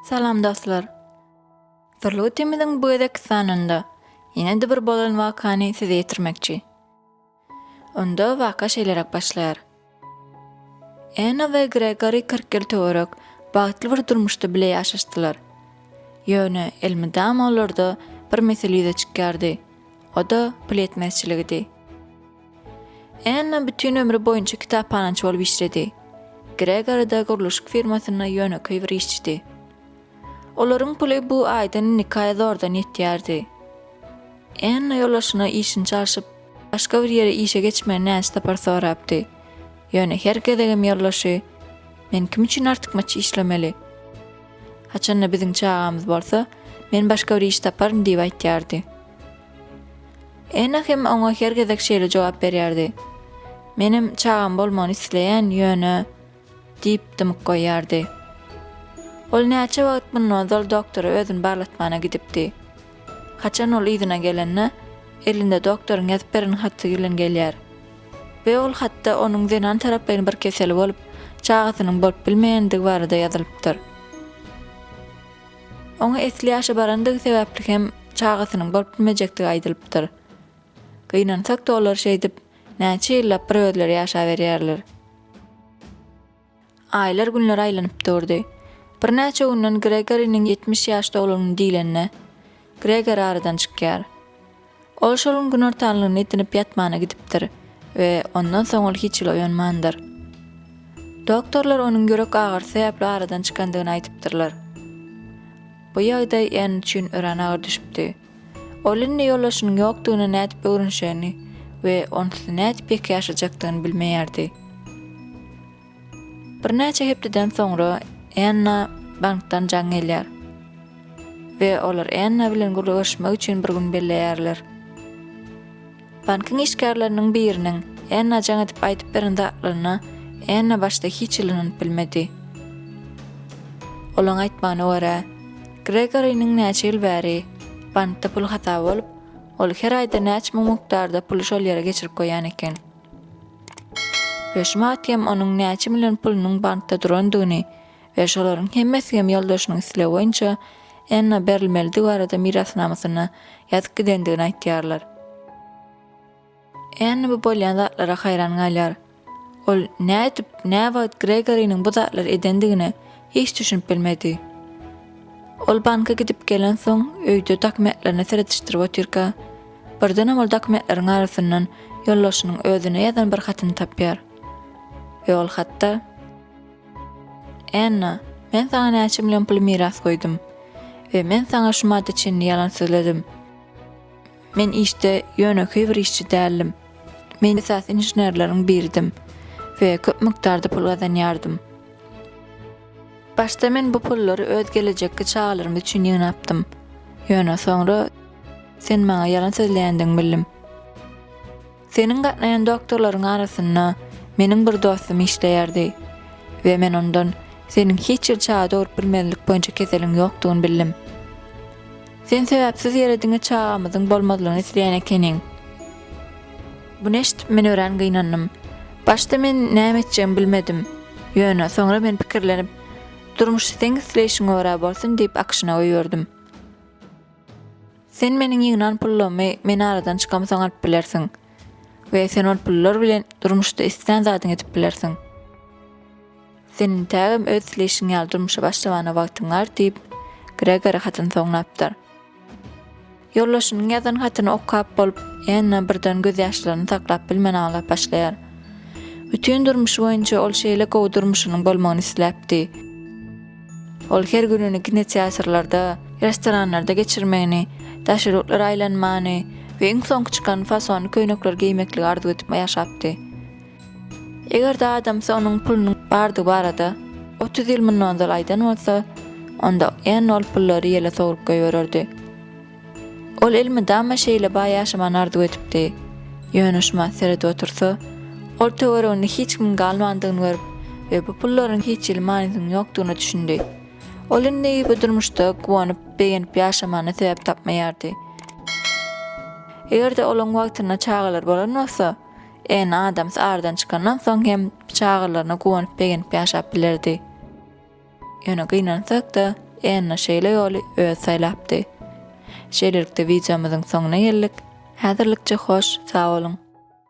Salam dostlar. Sirli ötemiziň bu gezek sanynda ýene-de bir bolan wakany size ýetirmekçi. Onda waka şeýleräk başlaýar. Enna we Gregory kyrk ýyl töwerek bagtly bir durmuşda bile ýaşaşdylar. Ýöne elmydama olarda bir mesele ýüze çykýardy, o-da pul ýetmezçiligidi. Enna bütin ömri boýunça kitaphanaçy bolup işledi. Gregory-da gurluşyk firmasynda ýönekeý bir işçidi. Olaryň puly bu aýdan nikaýa zordan ýetýärdi. Enno ýolbaşçyna işini çalşyp, başga bir ýere işe geçmegi näçe sapar sorapdy. Ýöne her gezegem ýolbaşçy, Men kim üçin artykmaç işlemeli? Haçan-da biziň çagamyz bolsa, men başga bir iş taparyn diýip aýtýardy. Enno hem oňa her gezek şeýle jogap berýärdi, Menem çagam bolmagyny isleýän, ýöne, Diýip dymyp goýýardy. Ol näçe wagt mundan ozal doktora özüni barlatmana gidipdi. Haçan ol yzyna gelende, elinde doktoryň ýazyp beren haty bilen gelýär. We ol hatda onuň zenan taraplaýyn bir keseli bolup, çagasynyň bolup bilmeýändigi barada ýazylypdyr. Oňa esli ýaşa barandygy sebäpli hem çagasynyň bolup bilmejekdigi aýdylypdyr. Gynansak-da olar şeýdip, näçe ýyllap bir özleri ýaşaberýärler. Aýlar günlere aýlanyp durdy. Birnäçe günden Gregoriniň ýetmiş ýaş dolunyny diýlende, Gregor aradan çykýar. Ol şol gün günortanlygyny edinip ýatmana gidipdir we ondan soň ol hiç ýyl oýanmandyr. Doktorlar onuň ýürek agyrysy sebäpli aradan çykandygyny aýdypdyrlar. Bu ýagdaý Enn üçin örän agyr düşüpdi. Ol indi ýoldaşynyň ýokdugyna nädip öwrenişerini we onsuz nädip ýeke ýaşajakdygyny bilmeýärdi. Birnäçe hepdeden soňra Enna bankdan jaň gelýär we olar Enna bilen gürleşmek üçin bir gün belleýärler. Bankyň işgärleriniň biriniň Enna jaň edip aýdyp beren zatlaryna Enna başda hiç ylanyp bilmedi. Olaň aýtmagyna görä, Gregorynyň näçe ýyl bäri bankda pul hasaby bolup, ol her aýda näçe müň mukdarda puly şol ýere geçirip goýan eken. Höşümat hem onuň näçe million pulunyň bankda durandygyny we şolaryň hemmesi hem ýoldaşynyň islegi boýunça Enna berilmelidigi barada mirasnamasynda ýazyp gidendigini aýtýarlar. Enna bu bolýan zatlara haýran galýar. Ol nädip, näwagt Gregoriniň bu zatlary edendigine hiç düşünip bilmedi. Ol banka gidip gelensoň, öýde dokumentlerine seredişdirip otyrka, birdenem ol dokumentleriň arasyndan ýoldaşynyň özüne ýazan bir hatyny tapýar we ol hatda, Anna, men saňa näçe million pul miras goýdum we men saňa şu maddy çinini ýalan sözledim. Men işde ýönekeý bir işçi däldim. Men esasy inženerleriň biridim we köp mukdarda pul gazanýardym. Başda men bu pullary öz gelejekki çagalarymyz üçin ýygnapdym. Ýöne soňra sen maňa ýalan sözleýändigiňi bildim. Seniň gatnaýan doktorlaryň arasynda meniň bir dostum işleýärdi we men ondan seniň hiç ýyl çaga dogrup bilmezlik boýunça keseliň ýokdugyny bildim. Sen sebäpsiz ýere diňe çagamyzyň bolmazlygyny isleýän ekeniň. Buny eşidip men örän gynandym. Başda men näme etjegimi bilmedim. Ýöne soňra men pikirlenip, Durmuş seň isleýşiňe görä bolsun diýip akşyna goýberdim. Sen meniň ýygnan pullarymy men aradan çykamsoň alyp bilersiň we sen ol pullar bilen durmuşda islän zadyňy edip bilersiň. Sen intägem öz isleýşiň ýaly durmuşa başlamana wagtyň bar, diýip, Gregori hatyny soňlapdyr. Ýoldaşynyň ýazan hatyny okap bolup, Enna birden gözýaşlaryny saklap bilmän aglap başlaýar. Bütin durmuşy boýunça ol şeýle gowy durmuşynyň bolmagyny isläpdi. Ol her gününi kinoteatrlarda, restoranlarda geçirmegini, daş ýurtlary aýlanmany we iň soňky çykan fasonly köýnekleri geýmekligi arzuw edip ýaşapdy. Eger-de adamsy onuň pulunyň bardygy barada otuz ýyl mundan ozal aýdan bolsa, onda Enn ol pullary ýele sowrup goýbererdi. Ol elmydama şeýle baý ýaşamany arzuw edipdi. Ýöne şu mat seredip otursa, ol töwereginde hiç kimiň galmandygyny görüp we bu pullaryň hiç hili manysynyň ýokdugyna düşündi. Ol indi bu durmuşda guwanyp, begenip ýaşamana sebäp tapmaýardy. Eger-de olaň wagtynda çagalary bolan bolsa, Eni Adams aradan çykandan soň hem çagalaryna guwanyp-begenip ýaşap bilerdi. Ýöne gynansak-da, Enna şeýle ýoly özi saýlapdy. Şeýlelikde wideomyzyň soňuna geldik. Häzirlikçe hoş, sag boluň!